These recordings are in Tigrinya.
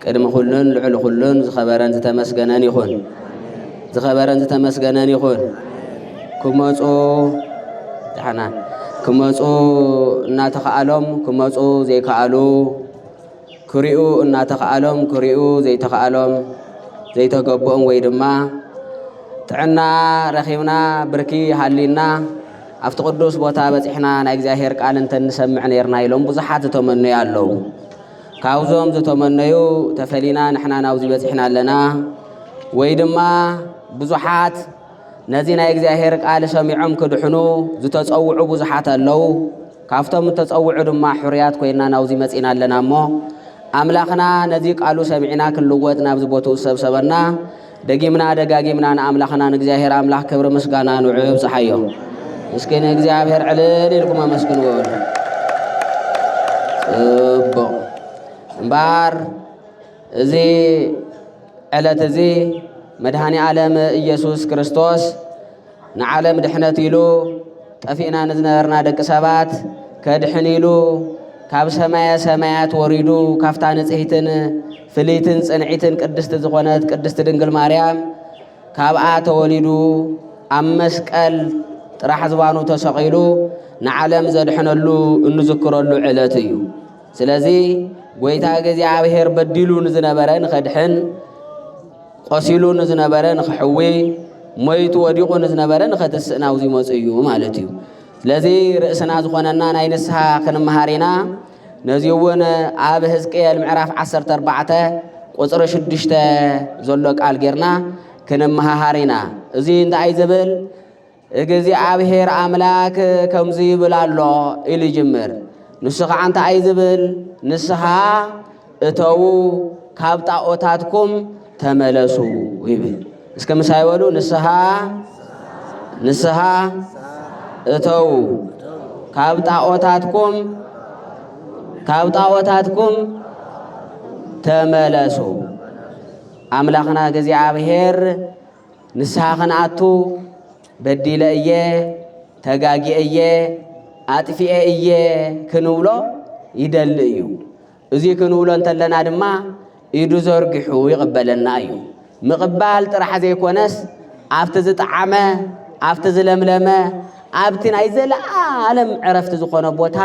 ቅድሚ ኩሉን ልዕሊ ኩሉን ዝኸበረን ዝተመስገነን ይኹን። ዝኸበረን ዝተመስገነን ይኹን። ክመፁ ዳሕና ክመፁ እናተኸኣሎም ክመፁ ዘይከኣሉ ክሪኡ እናተኸኣሎም ክሪኡ ዘይተኸኣሎም ዘይተገብኦም ወይ ድማ ጥዕና ረኺብና ብርኪ ሃሊና ኣብቲ ቅዱስ ቦታ በፂሕና ናይ እግዚኣብሔር ቃል እንተንሰምዕ ነርና ኢሎም ብዙሓት ዝተመነዩ ኣለዉ። ካብዞም ዝተመነዩ ተፈሊና ንሕና ናብዚ በጺሕና ኣለና ወይ ድማ ብዙሓት ነዚ ናይ እግዚኣብሔር ቃል ሰሚዖም ክድሕኑ ዝተጸውዑ ብዙሓት ኣለዉ ካብቶም እተጸውዑ ድማ ሕርያት ኮይና ናብዚ መጺና ኣለና እሞ ኣምላኽና ነዚ ቃሉ ሰሚዕና ክንልወጥ ናብዚ ቦትኡ ዝሰብሰበና ደጊምና ደጋጊምና ንኣምላኽና ንእግዚኣብሔር ኣምላኽ ክብሪ ምስጋና ንዑ ይብጽሓዮ። እስኪ ንእግዚኣብሔር ዕልል ኢልኩም ኣመስግንዎ። ጽቡቕ እምበኣር እዚ ዕለት እዚ መድኃኔ ዓለም ኢየሱስ ክርስቶስ ንዓለም ድሕነት ኢሉ ጠፊእና ንዝነበርና ደቂ ሰባት ከድሕን ኢሉ ካብ ሰማየ ሰማያት ወሪዱ ካብታ ንጽሕትን ፍልይትን ጽንዒትን ቅድስቲ ዝኾነት ቅድስቲ ድንግል ማርያም ካብኣ ተወሊዱ ኣብ መስቀል ጥራሕ ዝባኑ ተሰቒሉ ንዓለም ዘድሕነሉ እንዝክረሉ ዕለት እዩ። ስለዚ ጐይታ እግዚኣብሔር በዲሉ ንዝነበረ ንኸድሕን ቆሲሉ ንዝነበረ ንክሕዊ ሞይቱ ወዲቑ ንዝነበረ ንኸትስእ ናብዚ መፁ እዩ ማለት እዩ። ስለዚ ርእስና ዝኾነና ናይ ንስሓ ክንምሃር ኢና። ነዚ እውን ኣብ ህዝቅኤል ምዕራፍ 14 ቁፅሪ 6 ዘሎ ቃል ጌርና ክንመሃሃር ኢና። እዚ እንታይ ዝብል እግዚኣብሔር ኣምላክ ከምዚ ይብል ኣሎ ኢሉ ይጅምር። ንሱ ከዓ እንታይ እዩ ዝብል? ንስኻ እተዉ ካብ ጣዖታትኩም ተመለሱ ይብል። እስከ ምሳይ በሉ ንስኻ ንስኻ እተዉ ካብ ጣዖታትኩም ካብ ጣዖታትኩም ተመለሱ። ኣምላኽና እግዚኣብሔር ንስሓ ኸንኣቱ በዲለ እየ፣ ተጋጊኤ እየ፣ ኣጥፊኤ እየ ክንብሎ ይደሊ እዩ። እዙይ ክንብሎ እንተለና ድማ ኢዱ ዘርጊሑ ይቕበለና እዩ። ምቕባል ጥራሕ ዘይኮነስ ኣብቲ ዝጠዓመ ኣብቲ ዝለምለመ ኣብቲ ናይ ዘለኣለም ዕረፍቲ ዝኾነ ቦታ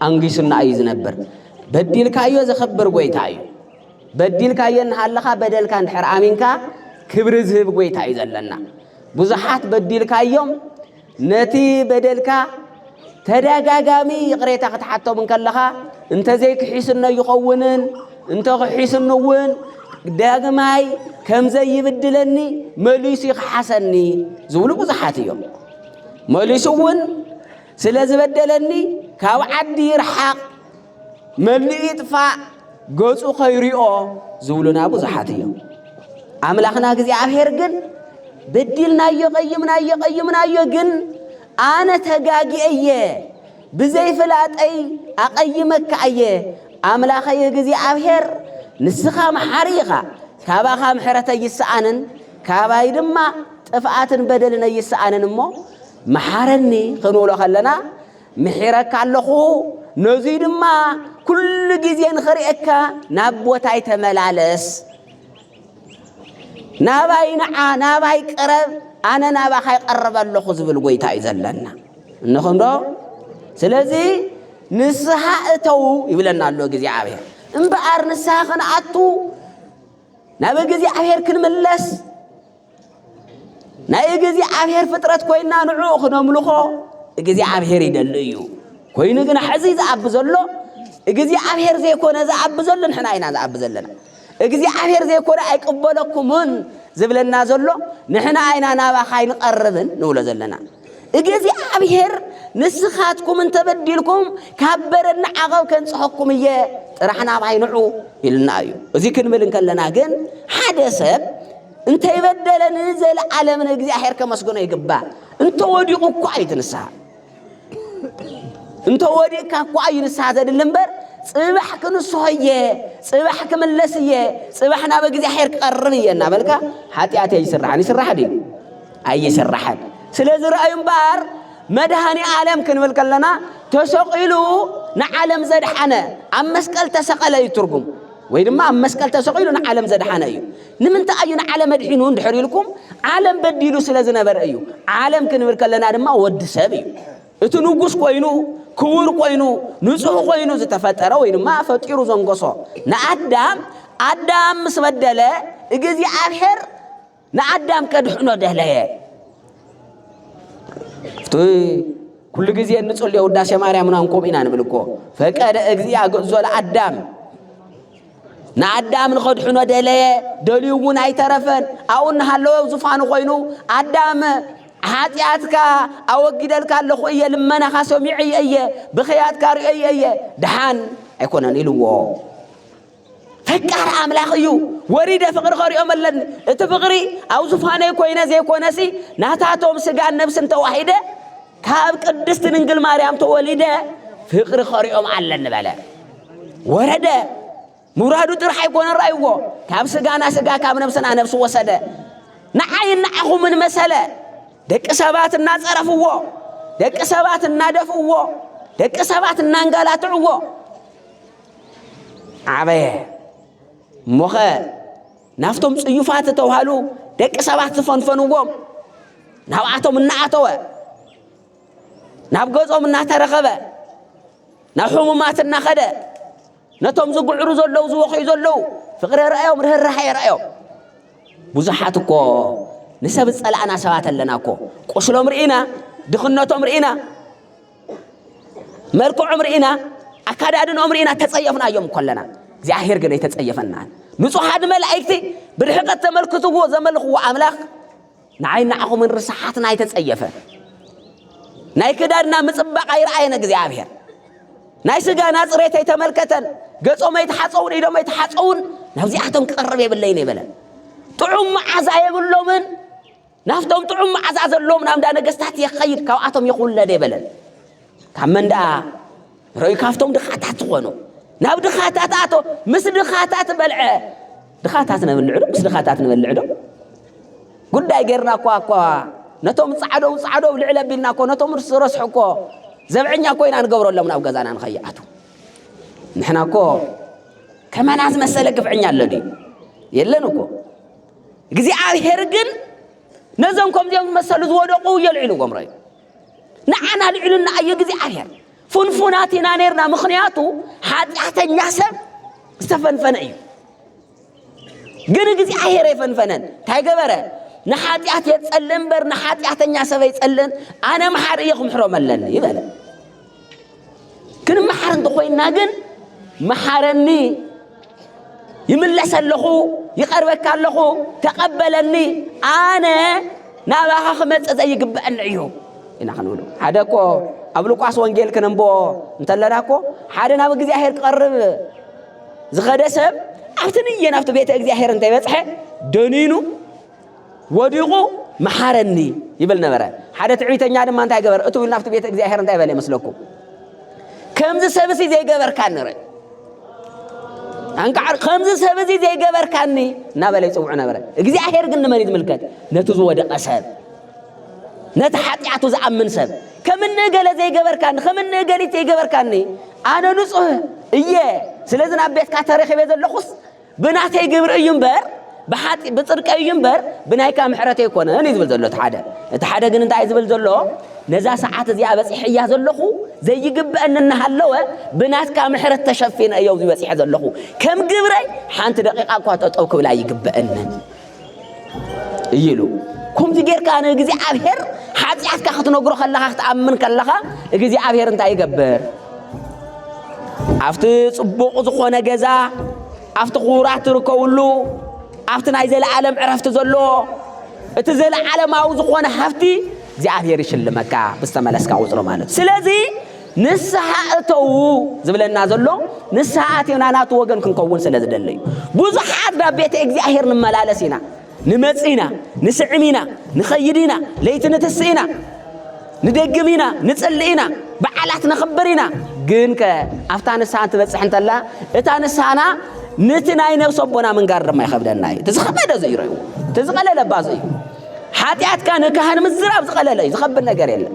ኣንጊሱና እዩ ዝነብር። በዲልካ እዮ ዘኸብር ጎይታ እዩ። በዲልካዮ እናሃለኻ በደልካ እንድሕር ኣሚንካ ክብሪ ዝህብ ጎይታ እዩ ዘለና። ብዙሓት በዲልካዮም ነቲ በደልካ ተደጋጋሚ ይቕሬታ ክትሓቶም እንከለኻ እንተዘይክሒስኖ ይኸውንን እንተኽሒስኑ እውን ዳግማይ ከምዘይብድለኒ መሊሱ ይኽሓሰኒ ዝብሉ ብዙሓት እዮም። መሊሱ እውን ስለ ዝበደለኒ ካብ ዓዲ ይርሓቕ መሊእ ይጥፋእ ገጹ ከይሪኦ ዝብሉና ብዙሓት እዮም። ኣምላኽና እግዚኣብሔር ግን በዲልናዮ ቀይምናዮ ቀይምናዮ ግን ኣነ ተጋጊኤ እየ ብዘይፍላጠይ ኣቐይመካ እየ ኣምላኸይ እግዚኣብሔር ንስኻ መሓሪ ኢኻ ካባኻ ምሕረት ኣይስኣንን ካባይ ድማ ጥፍኣትን በደልን ኣይስኣንን እሞ መሓረኒ ክንብሎ ከለና ምሒረካ ኣለኹ፣ ነዙይ ድማ ኩሉ ግዜ ንኽርእየካ ናብ ቦታይ ተመላለስ፣ ናባይ ንዓ፣ ናባይ ቅረብ፣ ኣነ ናባኻ ይቐርበ ኣለኹ ዝብል ጎይታ እዩ ዘለና። እንኹምዶ ስለዚ ንስሓ እተው ይብለና ኣሎ እግዚኣብሔር። እምበኣር ንስሓ ክንኣቱ ናብ እግዚኣብሔር ክንምለስ ናይ እግዚኣብሔር ፍጥረት ኮይና ንዕኡ ክነምልኾ እግዚኣብሔር ይደሊ እዩ ኮይኑ ግን ሕዚ ዝኣቢ ዘሎ እግዚኣብሔር ዘይኮነ ዝኣቢ ዘሎ ንሕና ኢና ዝኣቢ ዘለና እግዚኣብሔር ዘይኮነ ኣይቅበለኩምን ዝብለና ዘሎ ንሕና ኢና ናባኻ ኣይንቐርብን ንብሎ ዘለና እግዚኣብሔር ንስኻትኩም እንተበዲልኩም ካብ በረድና ዓቐብ ከንጽሐኩም እየ ጥራሕ ናባይ ንዑ ኢልና እዩ እዚ ክንብል እንከለና ግን ሓደ ሰብ እንተይበደለ ንዘለዓለም ንእግዚኣብሔር ከመስግኖ ይግባእ። እንተወዲቑ እኳ እዩ እቲ ንስሓ እንተወዲቕካ እኳ እዩ ንስሓ ዘድሊ እምበር ጽባሕ ክንስሖ እየ ጽባሕ ክምለስ እየ ጽባሕ ናብ እግዚኣብሔር ክቐርብ እየ እናበልካ ሓጢኣት ኣይስራሕን ይስራሕ ድዩ ኣይስራሕን ስለዚ ረኣዩ እምበኣር መድሃኒ ዓለም ክንብል ከለና ተሰቂሉ ንዓለም ዘድሓነ ኣብ መስቀል ተሰቐለ እዩ ትርጉም ወይ ድማ ኣብ መስቀል ተሰቂሉ ንዓለም ዘድሓነ እዩ ንምንታይ እዩ ንዓለም ኣድሒኑ እንድሕር ኢልኩም ዓለም በዲሉ ስለ ዝነበረ እዩ። ዓለም ክንብል ከለና ድማ ወዲ ሰብ እዩ። እቲ ንጉስ ኮይኑ ክቡር ኮይኑ ንጹህ ኮይኑ ዝተፈጠረ ወይ ድማ ፈጢሩ ዘንጎሶ ንኣዳም ኣዳም ምስ በደለ እግዚኣብሔር ንኣዳም ከድሕኖ ደለየ። እቲ ኩሉ ግዜ እንጽልዮ ውዳሴ ማርያም ናንኮም ኢና ንብል እኮ ፈቀደ እግዚኣ ግእዞ ለኣዳም ንኣዳም ንኸድሕኖ ደለየ ደልዩ እውን ኣይተረፈን ኣብኡ እናሃለወ ዙፋኑ ኮይኑ ኣዳም ሓጢኣትካ ኣወጊደልካ ኣለኹ እየ ልመናኻ ሰሚዐየ እየ ብኸያትካ ርእየ እየ ድሓን ኣይኮነን ኢልዎ ፈቃር ኣምላኽ እዩ ወሪደ ፍቕሪ ከሪኦም ኣለኒ እቲ ፍቕሪ ኣብ ዙፋነይ ኮይነ ዘይኮነሲ ናታቶም ስጋን ነብስን ተዋሒደ ካብ ቅድስት ድንግል ማርያም ተወሊደ ፍቅሪ ኸሪኦም ኣለኒ በለ ወረደ ምውራዱ ጥራሕ ኣይኮነ ራይዎ ካብ ስጋና ስጋ ካብ ነብስና ነብሲ ወሰደ ንዓይ ንዓኹምን መሰለ ደቂ ሰባት እናጸረፍዎ ደቂ ሰባት እናደፍእዎ ደቂ ሰባት እናንጋላትዕዎ ዓበየ እሞኸ ናብቶም ጽዩፋት ዝተውሃሉ ደቂ ሰባት ዝፈንፈንዎም ናብኣቶም እናኣተወ ናብ ገጾም እናተረኸበ ናብ ሕሙማት እናኸደ ነቶም ዝግዕሩ ዘለዉ ዝወኽዩ ዘለዉ ፍቕሪ ርኣዮም ርህራሐ የርኣዮም ብዙሓት እኮ ንሰብ ዝጸላእና ሰባት ኣለና እኮ ቁስሎም ርኢና ድኽነቶም ርኢና መልክዖም ርኢና ኣካዳድንኦም ርኢና ተጸየፍናዮም ኮለና እግዚኣብሔር ግን ኣይተጸየፈናን ንጹሓት መላእክቲ ብርሕቀት ተመልክትዎ ዘመልኽዎ ኣምላኽ ንዓይ ንዓኹምን ርስሓትና ኣይተጸየፈ ናይ ክዳድና ምጽባቕ ኣይረኣየን እግዚኣብሔር ናይ ስጋና ጽሬት ኣይተመልከተን ገጾም ኣይተሓጸውን ኢዶም ኣይተሓጸውን ናብዚኣቶም ክቐርብ የብለይን የበለን ጥዑም መዓዛ የብሎምን ናብቶም ጥዑም መዓዛ ዘለዎም ናብ እንዳ ነገስታት የኸይድ ካብኣቶም ይኹለድ የበለን ካብ መን ደኣ ርእዩ ካብቶም ድኻታት ዝኾኑ ናብ ድኻታት ኣቶ ምስ ድኻታት በልዐ ድኻታት ነብልዕ ዶ ምስ ድኻታት ንበልዕ ዶ ጉዳይ ጌርና እኳ እኳ ነቶም ፃዕደው ፃዕደው ልዕል ኣቢልና እኮ ነቶም ርስ ረስሑ እኮ ዘብዐኛ እኮ ኢና ንገብረሎም ናብ ገዛና ንኸይኣቱ ንሕና እኮ ከመና ዝመሰለ ግፍዐኛ ኣሎ ድዩ የለን እኮ እግዚኣብሔር ግን ነዞም ከምዚኦም ዝመሰሉ ዝወደቁ የልዒሉ ጎምሮ እዩ ንዓና ልዕሉና እዩ እግዚኣብሔር ፍንፉናት ኢና ነርና ምክንያቱ ሓጢኣተኛ ሰብ ዝተፈንፈነ እዩ ግን እግዚኣብሔር የፈንፈነን እንታይ ገበረ ንሓጢኣት የጸለ እምበር ንሓጢኣተኛ ሰብ ኣይጸለን ኣነ መሓር እየ ክምሕሮም ኣለኒ ይበለ ክንመሓር እንተኾይንና ግን መሓረኒ ይምለሰ ኣለኹ ይቐርበካ ኣለኹ ተቐበለኒ ኣነ ናባኻ ክመፅእ ዘይግበአኒ እዩ ኢና ክንብሉ ሓደ እኮ ኣብ ሉቃስ ወንጌል ክነንቦ እንተለና እኮ ሓደ ናብ እግዚኣብሔር ክቐርብ ዝኸደ ሰብ ኣብቲ ንየ ናብቲ ቤተ እግዚኣብሔር እንተይበፅሐ ደኒኑ ወዲቑ መሓረኒ ይብል ነበረ። ሓደ ትዕቢተኛ ድማ እንታይ ገበረ? እቱ ናብቲ ቤተ እግዚኣብሔር እንታይ በለ ይመስለኩም? ከምዚ ሰብሲ ዘይገበርካኒ ረ ኣንቃዕ ከምዚ ሰብ እዚ ዘይገበርካኒ እናበለ ይፅውዑ ነበረ እግዚኣብሔር ግን ንመን ዝምልከት ነቲ ዝወደቐ ሰብ ነቲ ሓጢኣቱ ዝኣምን ሰብ ከም እንእገለ ዘይገበርካኒ ከም እንእገሊት ዘይገበርካኒ ኣነ ንፁህ እየ ስለዚ ናብ ቤትካ ተረኺበ ዘለኹስ ብናተይ ግብሪ እዩ እምበር ብሓጢ ብፅድቀይ እዩ እምበር ብናይካ ምሕረት ኣይኮነን እዩ ዝብል ዘሎ እቲ ሓደ እቲ ሓደ ግን እንታይ እዩ ዝብል ዘሎ ነዛ ሰዓት እዚኣ በፂሐያ ዘለኹ ዘይግበአኒ እናሃለወ ብናትካ ምሕረት ተሸፊነ እዮ በፂሐ ዘለኹ ከም ግብረይ ሓንቲ ደቂቃ እኳ ጠጠው ክብላ ይግበአንን እዩ ኢሉ ከምዚ ጌርካ ንእግዚኣብሔር ሓጢኣትካ ክትነግሮ ከለኻ ክትኣምን ከለኻ እግዚኣብሔር እንታይ ይገብር ኣብቲ ጽቡቕ ዝኾነ ገዛ ኣብቲ ክቡራት ትርከብሉ ኣብቲ ናይ ዘለዓለም ዕረፍቲ ዘሎ እቲ ዘለዓለማዊ ዝኾነ ሃፍቲ እግዚኣብሔር ይሽልመካ ብዝተመለስካ ቁፅሪ ማለት እዩ ስለዚ ንስሓ እተዉ ዝብለና ዘሎ ንስሓ ኣቲና ናቱ ወገን ክንከውን ስለ ዝደለ እዩ። ብዙሓት ናብ ቤተ እግዚኣብሔር ንመላለስ ኢና፣ ንመጽእ ኢና፣ ንስዕም ኢና፣ ንኸይድ ኢና፣ ለይቲ ንትስእ ኢና፣ ንደግም ኢና፣ ንጽልእ ኢና፣ በዓላት ነኽብር ኢና። ግን ከ ኣብታ ንስሓ እንትበጽሕ እንተላ እታ ንስሓና ነቲ ናይ ነብሲ ኣቦና ምንጋር ድማ ይኸብደና እዩ። እቲ ዝኸበደ ዘዩ ረዩ እቲ ዝቐለለ ባዘዩ ሓጢኣትካ ንካህን ምዝራብ ዝቐለለ እዩ፣ ዝኸብድ ነገር የለን።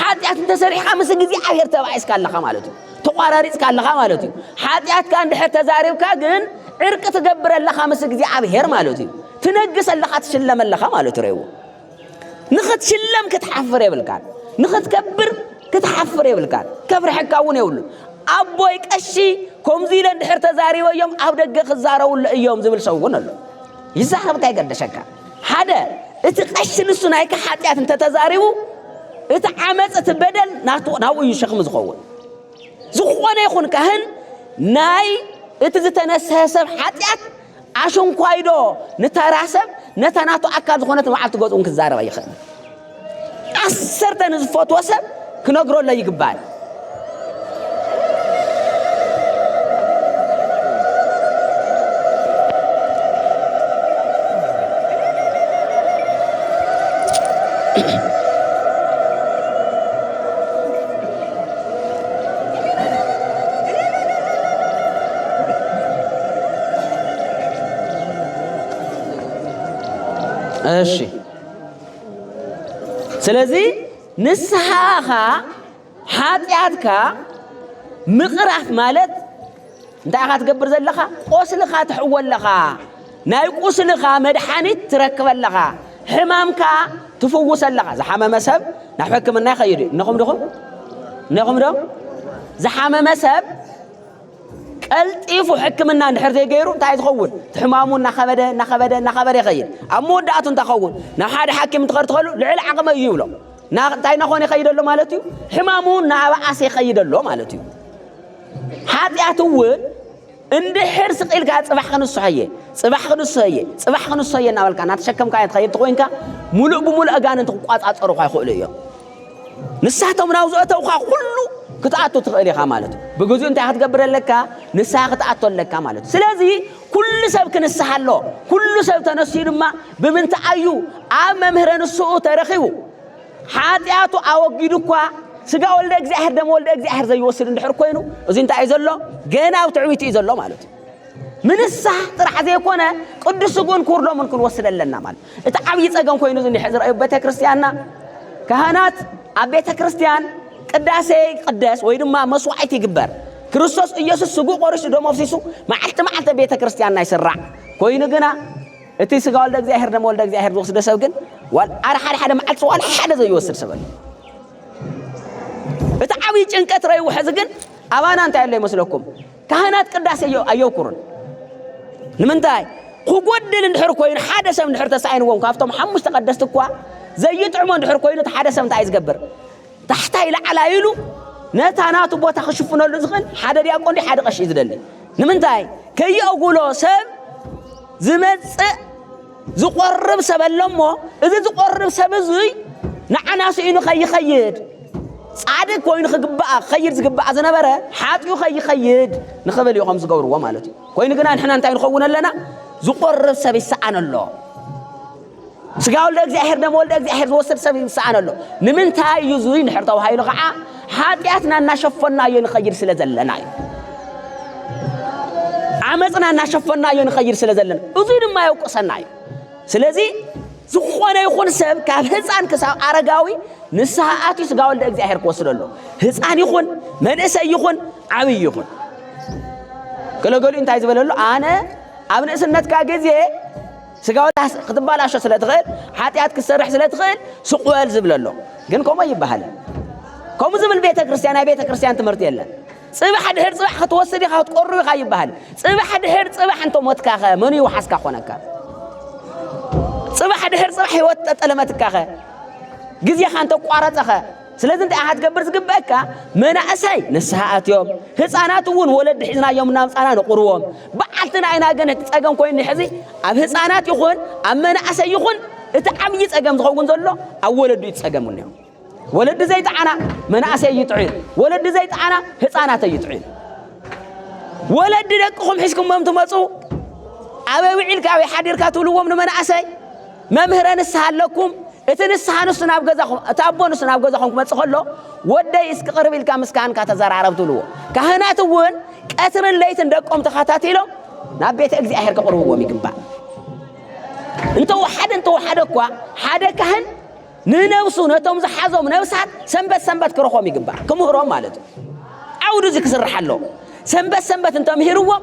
ሓጢኣት እንተሰሪሕካ ምስ እግዚኣብሔር ተባኢስካ ኣለኻ ማለት እዩ ተቋራሪፅካ ኣለኻ ማለት እዩ ሓጢኣትካ እንድሕር ተዛሪብካ ግን ዕርቂ ትገብር ኣለኻ ምስ እግዚኣብሔር ማለት እዩ ትነግስ ኣለኻ ትሽለም ኣለኻ ማለት ረይዎ ንኽትሽለም ክትሓፍር የብልካን ንኽትከብር ክትሓፍር የብልካን ከፍርሐካ እውን የብሉ ኣቦይ ቀሺ ከምዚ ኢለ እንድሕር ተዛሪበዮም ኣብ ደገ ክዛረቡለ እዮም ዝብል ሰው እውን ኣሎ ይዛረብካ ይገደሸካ ሓደ እቲ ቀሺ ንሱ ናይካ ሓጢኣት እንተተዛሪቡ እቲ ዓመፅ እቲ በደል ናብኡ እዩ ሸክሚ ዝኸውን ዝኾነ ይኹን ካህን ናይ እቲ ዝተነስሐ ሰብ ሓጢኣት ኣሸንኳይዶ ንተራ ሰብ ነታ ናቱ ኣካል ዝኾነት መዓልቲ ገዝኡን ክዛረባ ይኽእል ዓሰርተ ንዝፈትዎ ሰብ ክነግረሎ ይግባል እሺ ስለዚ ንስሓኻ ሓጢኣትካ ምቕራፍ ማለት እንታይ ኢኻ ትገብር ዘለኻ? ቆስልኻ ትሕወ ኣለኻ። ናይ ቁስልኻ መድሓኒት ትረክበ ኣለኻ። ሕማምካ ትፍውሰ ኣለኻ። ዝሓመመ ሰብ ናብ ሕክምና ይኸይድ እዩ። እነኹም ድኹም እነኹም ዶ ዝሓመመ ሰብ ቀልጢፉ ሕክምና እንድሕር ዘይገይሩ እንታይ እዩ ዝኸውን? እቲ ሕማሙ እናኸበደ እናኸበደ እናኸበደ ይኸይድ። ኣብ መወዳእቱ እንታይ ይኸውን? ናብ ሓደ ሓኪም እንትኸድ ትኸሉ ልዕሊ ዓቕመይ እዩ ይብሎ። እንታይ እናኾነ ይኸይድ ኣሎ ማለት እዩ? ሕማሙ እናበኣሰ ይኸይድ ኣሎ ማለት እዩ። ሓጢኣት እውን እንድሕር ስቂልካ ጽባሕ ክንስሖ እየ ጽባሕ ክንስሖ እየ ጽባሕ ክንስሖ እየ እናበልካ እናተሸከምካ እየ ትኸይድ ተኮይንካ ሙሉእ ብሙሉእ ኣጋንንቲ ክቋጻጸሩኻ ይኽእሉ እዮም። ንሳቶም ናብ ዝእተውካ ኩሉ ክትኣቱ ትኽእል ኢኻ ማለት እዩ ብግዚኡ እንታይ ክትገብር ኣለካ ንስሓ ክትኣቶ ኣለካ ማለት እዩ ስለዚ ኩሉ ሰብ ክንስሓ ኣሎ ኩሉ ሰብ ተነስዩ ድማ ብምንታይ ኣዩ ኣብ መምህረ ንስኡ ተረኺቡ ሓጢኣቱ ኣወጊዱ እኳ ስጋ ወልደ እግዚኣብሔር ደም ወልደ እግዚኣብሔር ዘይወስድ እንድሕር ኮይኑ እዚ እንታይ እዩ ዘሎ ገና ኣብ ትዕቢት እዩ ዘሎ ማለት እዩ ምንሳሕ ጥራሕ ዘይኮነ ቅዱስ ስጉን ኩርዶምን ክንወስድ ኣለና ማለት እቲ ዓብዪ ጸገም ኮይኑ ዝኒሐ ዝረኣዩ ቤተ ክርስቲያንና ካህናት ኣብ ቤተ ክርስቲያን ቅዳሴ ይቅደስ ወይ ድማ መስዋዕት ይግበር ክርስቶስ ኢየሱስ ስጉ ቆሪሱ ደሞ ኣፍሲሱ መዓልቲ መዓልቲ ቤተ ክርስቲያንና ይስራዕ ኮይኑ ግና እቲ ስጋ ወልደ እግዚኣብሔር ደሞ ወልደ እግዚኣብሔር ዝወስደ ሰብ ግን ሓደ ሓደ ሓደ መዓልቲ ዋላ ሓደ ዘይወስድ ሰብ እቲ ዓብዪ ጭንቀት ረይዎ ሕዚ ግን ኣባና እንታይ ኣሎ ይመስለኩም ካህናት ቅዳሴ ኣየውኩሩን ንምንታይ ክጎድል እንድሕር ኮይኑ ሓደ ሰብ እንድሕር ተሳኢንዎም ካብቶም ሓሙሽተ ቀደስቲ እኳ ዘይጥዕሞ እንድሕር ኮይኑ እቲ ሓደ ሰብ እንታይ ዝገብር ታሕታይ ላዕላ ኢሉ ነታ ናቱ ቦታ ክሽፍነሉ ዝኽእል ሓደ ዲያቆን ሓደ ቀሺ እዩ ዝደሊ ንምንታይ ከየእጉሎ ሰብ ዝመፅእ ዝቆርብ ሰብ ኣሎሞ እዚ ዝቆርብ ሰብ እዙይ ንዓና ስኢኑ ከይኸይድ ጻድቅ ኮይኑ ክግባኣ ክኸይድ ዝግባኣ ዝነበረ ሓጢኡ ከይኸይድ ንኽብል እዮም ዝገብርዎ ማለት እዩ ኮይኑ ግና ንሕና እንታይ ንኸውን ኣለና ዝቆርብ ሰብ ይሰኣን ኣሎ ስጋ ወልደ እግዚኣብሔር ደሞ ወልደ እግዚኣብሔር ዝወስድ ሰብ ይሰኣን ኣሎ ንምንታይ እዩ እዙይ ንድሕር ተባሂሉ ከዓ ሓጢኣትና እናሸፈናዮ ንኸይድ ስለ ዘለና እዩ ዓመፅና እናሸፈናዮ ንኸይድ ስለ ዘለና እዙይ ድማ የውቅሰና እዩ ስለዚ ዝኾነ ይኹን ሰብ ካብ ህፃን ክሳብ ኣረጋዊ ንስሓ ኣትዩ ስጋ ወልደ እግዚኣብሔር ክወስዶ ኣሎ ህፃን ይኹን መንእሰይ ይኹን ዓብይ ይኹን ገለገሊኡ እንታይ ዝበለሉ ኣነ ኣብ ንእስነትካ ግዜ ስጋውታ ክትባላሾ ስለ ትኽእል ሓጢኣት ክትሰርሕ ስለ ትኽእል ስቕ በል ዝብል ኣሎ ግን ከምኡ ኣይበሃልን ከምኡ ዝብል ቤተ ክርስቲያን ናይ ቤተ ክርስቲያን ትምህርቲ የለን ፅባሕ ድሕር ፅባሕ ክትወስድ ኢኻ ክትቆርብ ኢኻ ይበሃል ፅባሕ ድሕር ፅባሕ እንተ ሞትካ ኸ መኑ ይውሓስካ ኮነካ ፅባሕ ድሕር ፅባሕ ህይወት ጠጠለመትካ ኸ ግዜኻ እንተ ቋረፀ ኸ ስለዚ እንታይ ኢኻ ትገብር ዝግበአካ መናእሰይ ንስሓ ኣትዮም ህፃናት እውን ወለዲ ሒዝናዮም እናምፃና ንቑርዎም በዓልትና ኢና ግን እቲ ፀገም ኮይኑ ሕዚ ኣብ ህፃናት ይኹን ኣብ መናእሰይ ይኹን እቲ ዓብዪ ፀገም ዝኸውን ዘሎ ኣብ ወለዱ እዩ ፀገም እኒኦ ወለዲ ዘይጠዓና መናእሰይ እዩ ጥዑን ወለዲ ዘይጠዓና ህፃናት እዩ ጥዑን ወለዲ ደቅኹም ሒዝኩሞም ትመፁ ኣበይ ውዒልካ ኣበይ ሓዲርካ ትብልዎም ንመናእሰይ መምህረ ንስሓ ኣለኩም እቲ ንስሓ ንሱ ናብ ገዛኹም እቲ ኣቦ ንሱ ናብ ገዛኹም ክመጽእ ከሎ ወደይ እስኪ ቅርብ ኢልካ ምስ ካህንካ ተዘራረብ ትብልዎ ካህናት እውን ቀትርን ለይትን ደቆም ተኸታቲሎም ናብ ቤተ እግዚኣብሔር ከቕርብዎም ይግባእ እንተወሓደ እንተወሓደ እኳ ሓደ ካህን ንነብሱ ነቶም ዝሓዞም ነብሳት ሰንበት ሰንበት ክረኾም ይግባእ ክምህሮም ማለት እዩ ዓውዱ እዚ ክስራሕ ኣሎ ሰንበት ሰንበት እንተምሂርዎም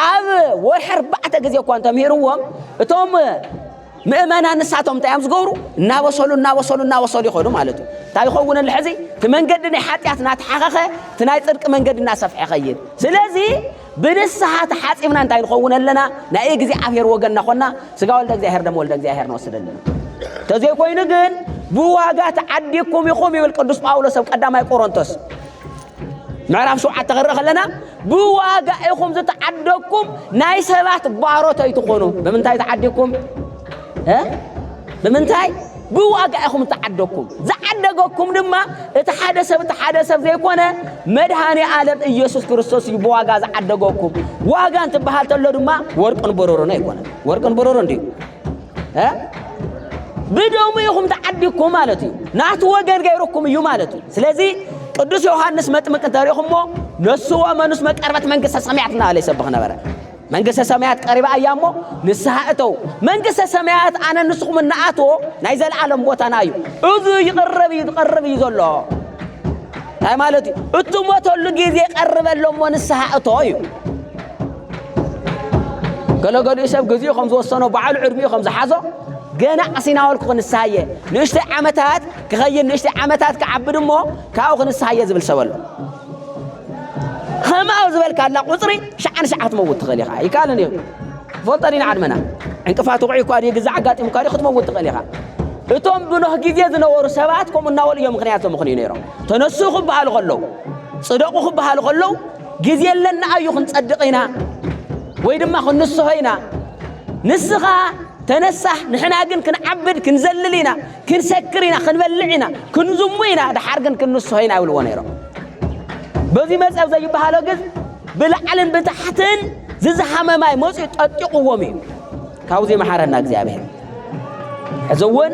ኣብ ወርሒ ኣርባዕተ ግዜ እኳ እንተምሂርዎም እቶም ምእመና ንሳቶም እንታይ እዮም ዝገብሩ እናበሰሉ እናበሰሉ እናበሰሉ ይኸዱ ማለት እዩ እንታይ ይኸውን ኣሎ ሕዚ እቲ መንገዲ ናይ ሓጢኣት እናተሓኸኸ እቲ ናይ ፅድቂ መንገዲ እናሰፍሐ ይኸይድ ስለዚ ብንስሓ ተሓጺብና እንታይ ንኸውን ኣለና? ናይ እግዚኣብሔር ወገን እናኾና ስጋ ወልደ እግዚኣብሔር ደም ወልደ እግዚኣብሔር ንወስድ ኣለና። ተዘይኮይኑ ግን ብዋጋ ተዓዲኩም ኢኹም ይብል ቅዱስ ጳውሎስ ኣብ ቀዳማይ ቆሮንቶስ ምዕራፍ ሸውዓተ ክንርኢ ከለና ብዋጋ ኢኹም ዝተዓደኩም ናይ ሰባት ባሮት ኣይትኾኑ። ብምንታይ ተዓዲኩም? ብምንታይ ብዋጋ ኢኹም እተዓደግኩም፣ ዝዓደገኩም ድማ እቲ ሓደ ሰብ እቲ ሓደ ሰብ ዘይኮነ መድሃኔ ኣለም እየሱስ ክርስቶስ እዩ ብዋጋ ዝዓደገኩም። ዋጋ እንትበሃል ተሎ ድማ ወርቅን ብሩርን ኣይኮነን። ወርቅን ብሩርን ድዩ? ብደሙ ኢኹም ተዓዲግኩም ማለት እዩ። ናቱ ወገን ገይሩኩም እዩ ማለት እዩ። ስለዚ ቅዱስ ዮሐንስ መጥምቅ እንተሪእኹሞ ነሱ ወመኑስ መቀርበት መንግስተ ሰማያት እናበለ ይሰብኽ ነበረ። መንግስተ ሰማያት ቀሪባ እያ እሞ ንስሓ እተው። መንግስተ ሰማያት ኣነ ንስኹም እንኣትዎ ናይ ዘለዓለም ቦታና እዩ። እዚ ይቕረብ እዩ ዝቐርብ እዩ ዘሎ እንታይ ማለት እዩ? እትሞተሉ ግዜ ቀርበ ኣሎ እሞ ንስሓ እቶ እዩ። ገለገሊኡ ሰብ ግዜኡ ከም ዝወሰኖ በዓሉ ዕድሚኡ ከም ዝሓዞ ገና ኣሲናወልኩ ክንስሓ እየ ንእሽተይ ዓመታት ክኸይድ ንእሽተይ ዓመታት ክዓብድ እሞ ካብኡ ክንስሓ እየ ዝብል ሰብ ኣሎ። ከምኣ ዝበልካላ ቁፅሪ ሸዓ ንሸዓ ክትመውት ትኽእል ኢኻ ይከኣልን እዩ ፈልጦ ዲና ዓድመና ዕንቅፋት ውቑዒ እኳ ድዩ ግዛ ኣጋጢሙ እኳ ድዩ ክትመውት ትኽእል ኢኻ እቶም ብኖህ ግዜ ዝነበሩ ሰባት ከምኡ እናበሉ እዮም ምክንያት ዘምኽንዩ ነይሮም ተነሱ ክበሃሉ ከለዉ ፅደቑ ክበሃሉ ከለዉ ግዜ ኣለና ኣዩ ክንፀድቕ ኢና ወይ ድማ ክንስሆ ኢና ንስኻ ተነሳህ ንሕና ግን ክንዓብድ ክንዘልል ኢና ክንሰክር ኢና፣ ክንበልዕ ኢና፣ ክንዝሙ ኢና፣ ደሓር ግን ክንንስሆ ኢና ይብልዎ ነይሮም። በዚ መጸብ ዘይበሃሎ ግን ብላዕልን ብታሕትን ዝዝሃመ ማይ መጽኡ ጠጢቑዎም እዩ። ካብዚ መሓረና እግዚኣብሔር። ሕዚ እውን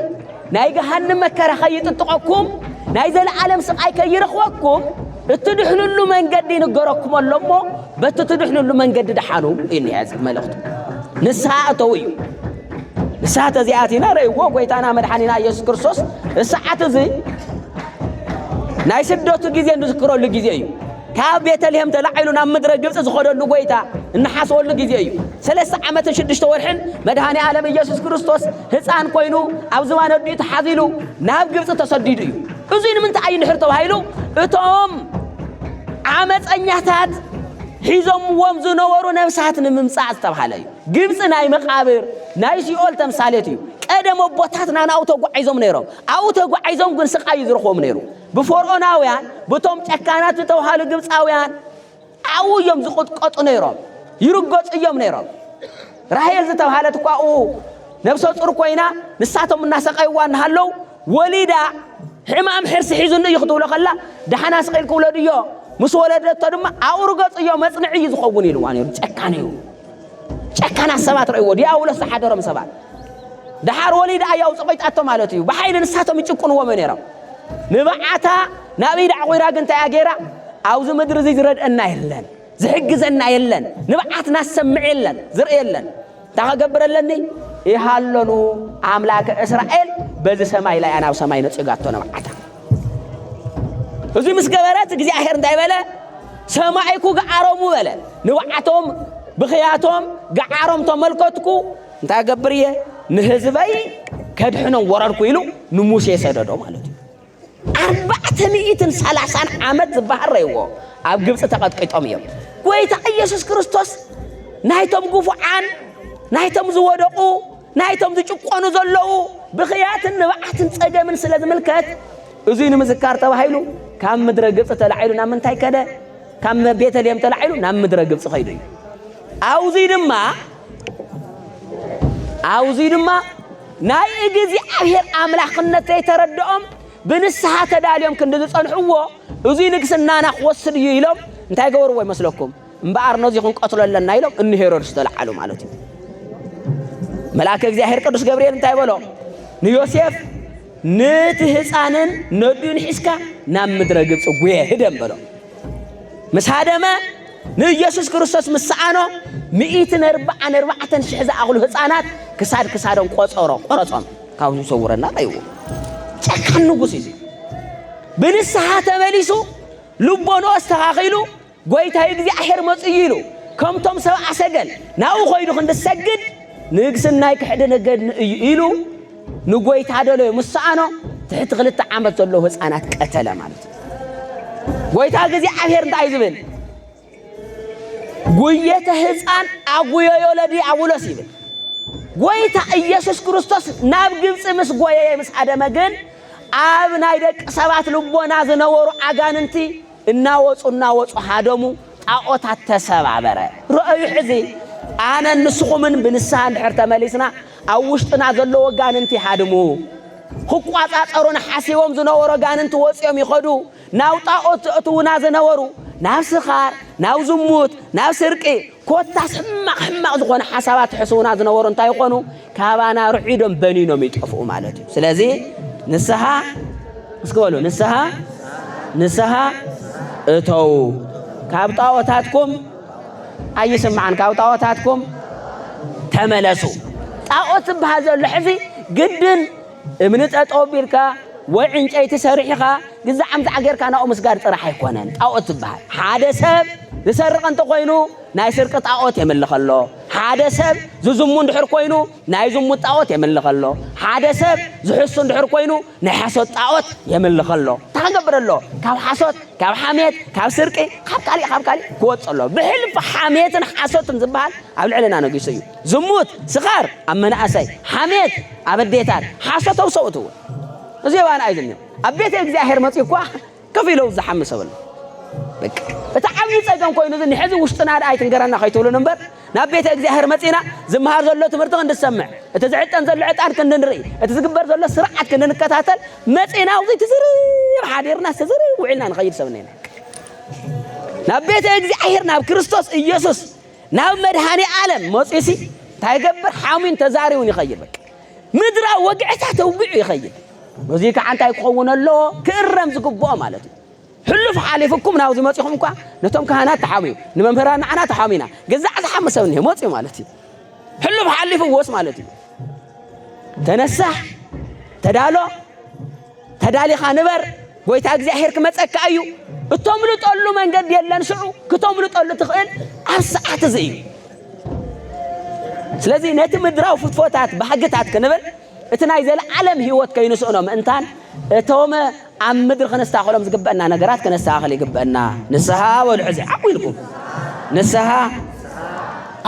ናይ ገሃንም መከራ ከይጥጥቐኩም ናይ ዘለዓለም ስቓይ ከይረኽበኩም እትድሕንሉ መንገዲ ይንገረኩም ኣሎ እሞ በቲ ትድሕንሉ መንገዲ ደሓኑ እዩ መልእኽቱ። ንስሓ እተው እዩ። እሳት እዚኣቲና ረእዎ ጎይታና መድሓኒና ኢየሱስ ክርስቶስ እሳዓት እዚ ናይ ስደቱ ግዜ እንዝክረሉ ግዜ እዩ። ካብ ቤተልሔም ተላዒሉ ናብ ምድረ ግብፂ ዝኸደሉ ጎይታ እንሓስበሉ ግዜ እዩ። ሰለስተ ዓመትን ሽዱሽተ ወርሕን መድሃኒ ዓለም ኢየሱስ ክርስቶስ ህፃን ኮይኑ ኣብ ዝባን ኣዲኡ ተሓዚሉ ናብ ግብፂ ተሰዲዱ እዩ። እዙይ ንምንታይ ኣይንሕር ተባሂሉ እቶም ዓመፀኛታት ሒዞምዎም ዝነበሩ ነብሳት ንምምፃእ ዝተባሃለ እዩ። ግብጺ ናይ መቓብር፣ ናይ ሲኦል ተምሳሌት እዩ። ቀደም ኣቦታትና ናብኡ ተጓዒዞም ነይሮም። ኣብኡ ተጓዒዞም ግን ስቓይ እዩ ዝረኽቦም ነይሩ። ብፈርዖናውያን፣ ብቶም ጨካናት ዝተባህሉ ግብጻውያን ኣብኡ እዮም ዝቕጥቀጡ ነይሮም፣ ይርገጹ እዮም ነይሮም። ራሄል ዝተባህለት እኳ ኣብኡ ነብሰ ጹር ኮይና ንሳቶም እናሰቐይዋ እናሃለው ወሊዳ ሕማም ሕርሲ ሒዙኒ እዩ ክትብሎ ከላ ደሓና ስቒልክ ውለድዮ ምስ ወለደቶ ድማ ኣብኡ ርገጹዮ መጽንዒ እዩ ዝኸውን ኢልዋ ነይሩ። ጨካን እዩ። ጨካናት ሰባት ረእዎ ዲያብሎስ ዝሓደሮም ሰባት ደሓር ወሊዳ ኣያ ውፅቂጣቶ ማለት እዩ ብሓይሊ ንሳቶም ይጭቁንዎም ነይሮም ንብዓታ ናብ ኢድ ኣዕቑራ ግን እንታይ እያ ገይራ ኣብዚ ምድሪ እዚ ዝረድአና የለን ዝሕግዘና የለን ንብዓትና ዝሰምዕ የለን ዝርኢ የለን እንታይ ከገብረለኒ ይሃለኑ ኣምላከ እስራኤል በዚ ሰማይ ላይ ኣናብ ሰማይ ነፂጋቶ ንብዓታ እዚ ምስ ገበረት እግዚኣብሔር እንታይ በለ ሰማይኩ ገዓሮሙ በለ ንብዓቶም ብኽያቶም ገዓሮም ተመልከትኩ እንታይ ገብር እየ ንህዝበይ ከድሕኖም ወረድኩ ኢሉ ንሙሴ ሰደዶ ማለት እዩ ኣርባዕተ ሚእትን ሰላሳን ዓመት ዝበሃል ረይዎ ኣብ ግብፂ ተቐጥቂጦም እዮም ጎይታ ኢየሱስ ክርስቶስ ናይቶም ግፉዓን ናይቶም ዝወደቑ ናይቶም ዝጭቆኑ ዘለዉ ብኽያትን ንብዓትን ጸገምን ስለ ዝምልከት እዙይ ንምዝካር ተባሂሉ ካብ ምድረ ግብፂ ተላዒሉ ናብ ምንታይ ከደ? ካብ ቤተልሔም ተላዒሉ ናብ ምድረ ግብፂ ኸይዱ እዩ። ኣውዙይ ድማ ኣውዙይ ድማ ናይ እግዚኣብሔር ኣምላኽነት ዘይተረድኦም ብንስሓ ተዳልዮም ክንዲ ዝጸንሕዎ እዙይ ንግስናና ክወስድ እዩ ኢሎም እንታይ ገበርዎ ይመስለኩም? እምበኣር ነዙይ ክንቀትሎ ኣለና ኢሎም እኒ ሄሮድስ ተለዓሉ ማለት እዩ። መልኣከ እግዚኣብሔር ቅዱስ ገብርኤል እንታይ በሎ ንዮሴፍ ንቲ ህፃንን ነዱን ሒዝካ ናብ ምድረ ግብፂ ጉየ ህደም በሎ ምስ ሃደመ ንኢየሱስ ክርስቶስ ምስ ሰኣኖ ሚእትን ኣርባዓን ኣርባዕተን ሽሕ ዝኣኽሉ ህፃናት ክሳድ ክሳዶም ቆፀሮ ቆረፆም ካብዚ ሰውረና ቀይዎ ጨካን ንጉስ እዩ ብንስሓ ተመሊሱ ልቦንኦ ኣስተኻኺሉ ጐይታይ እግዚኣብሔር መጽኡ እዩ ኢሉ ከምቶም ሰብዓ ሰገል ናብኡ ኾይዱ ክንዲ ዝሰግድ ንግስናይ ክሕድነገድኒ እዩ ኢሉ ንጐይታ ደለዮ ምስ ሰኣኖ ትሕቲ ክልተ ዓመት ዘለዉ ህፃናት ቀተለ ማለት እዩ። ጐይታ እግዚኣብሔር እንታይ ዝብል ጉየተ ህፃን ኣጉየዮ ለዲያብሎስ ይብል። ጐይታ ኢየሱስ ክርስቶስ ናብ ግብፂ ምስ ጐየየ ምስ ሃደመ ግን ኣብ ናይ ደቂ ሰባት ልቦና ዝነበሩ ኣጋንንቲ እናወጹ እናወጹ ሃደሙ፣ ጣዖታት ተሰባበረ። ርኣዩ ሕዚ ኣነን ንስኹምን ብንስሃ እንድሕር ተመሊስና ኣብ ውሽጥና ዘለዉ ኣጋንንቲ ይሃድሙ። ክቋጻጸሩና ሓሲቦም ዝነበሩ ኣጋንንቲ ወጺኦም ይኸዱ። ናብ ጣዖት ዘእትዉና ዝነበሩ ናብ ስኻር፣ ናብ ዝሙት፣ ናብ ስርቂ፣ ኮታስ ሕማቕ ሕማቕ ዝኾነ ሓሳባት ሕስውና ዝነበሩ እንታይ ይኾኑ? ካባና ርዒዶም በኒኖም ይጠፍኡ ማለት እዩ። ስለዚ ንስሓ እስኪ በሉ ንስሓ ንስሓ እተዉ ካብ ጣዖታትኩም ኣይስማዕን ካብ ጣዖታትኩም ተመለሱ። ጣዖት ዝበሃል ዘሎ ሕዚ ግድን እምኒ ጠጠው ኣቢልካ ወይ ዕንጨይቲ ሰሪሕኻ ግዛዕ ምዛዕ ጌርካ ናብኡ ምስጋድ ጥራሕ ኣይኮነን ጣኦት ዝበሃል። ሓደ ሰብ ዝሰርቕ እንተኾይኑ ናይ ስርቂ ጣኦት የምልኽ ኣሎ። ሓደ ሰብ ዝዝሙ እንድሕር ኮይኑ ናይ ዝሙት ጣኦት የምልኽ ኣሎ። ሓደ ሰብ ዝሕሱ እንድሕር ኮይኑ ናይ ሓሶት ጣኦት የምልኽ ኣሎ። እንታይ ክገብር ኣሎ? ካብ ሓሶት፣ ካብ ሓሜት፣ ካብ ስርቂ፣ ካብ ካሊእ ካብ ካሊእ ክወጽእ ኣሎ። ብሕልፊ ሓሜትን ሓሶትን ዝበሃል ኣብ ልዕልና ነጊሱ እዩ። ዝሙት፣ ስካር ኣብ መናእሰይ፣ ሓሜት ኣብ ኣዴታት፣ ሓሶት ኣብ ሰብኡት እውን እዚ የዋን ኣይልንዮ ኣብ ቤተ እግዚኣብሔር መጺኡ እኳ ከፍ ኢለው ዝሓሚ ሰብ ኣሎ። በቃ እቲ ዓብዪ ጸገም ኮይኑ እዚ ንሕዚ ውሽጥና ደኣ ኣይትንገረና ከይትብሉን እምበር ናብ ቤተ እግዚኣብሔር መጺና ዝመሃር ዘሎ ትምህርቲ ክንድሰምዕ እቲ ዝዕጠን ዘሎ ዕጣን ክንድንርኢ እቲ ዝግበር ዘሎ ስርዓት ክንድንከታተል መጺና ውዚ ትዝርብ ሓዲርና ዝተዝርብ ውዒልና ንኸይድ ሰብ እኔና ናብ ቤተ እግዚኣብሔር ናብ ክርስቶስ ኢየሱስ ናብ መድሃኔኣለም መጽዩሲ እንታይ ይገብር? ሓሚን ተዛሪውን ይኸይድ። በቃ ምድራዊ ወግዕታት ተውግዑ ይኸይድ። በዙይ ከዓ እንታይ ክኸውን ኣለዎ? ክእረም ዝግብኦ ማለት እዩ። ሕሉፍ ሓሊፍኩም ናብዚ መጺኹም እኳ ነቶም ካህናት ተሓምዩ ንመምህራን ንዓና ተሓሚና ገዛዕ ዝሓሚ ሰብ እኒሀ መፅዩ ማለት እዩ። ሕሉፍ ሓሊፍዎስ ማለት እዩ። ተነሳሕ ተዳሎ ተዳሊኻ ንበር ጎይታ እግዚኣብሔር ክመጸካ እዩ እቶምልጠሉ መንገዲ የለን ሽዑ ክቶምልጠሉ ትኽእል ኣብ ሰዓት እዚ እዩ ስለዚ ነቲ ምድራዊ ፍትፎታት ባህግታት ክንብል እቲ ናይ ዘለዓለም ህይወት ከይንስእኖ ምእንታን እቶም ኣብ ምድሪ ክነስተኻኸሎም ዝግበአና ነገራት ክነስተኻኸል ይግበአና ንስሃ በሉ ሕዚ ዓቑ ኢልኩም ንስሃ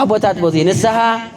ኣቦታት ቦዚ ንስሃ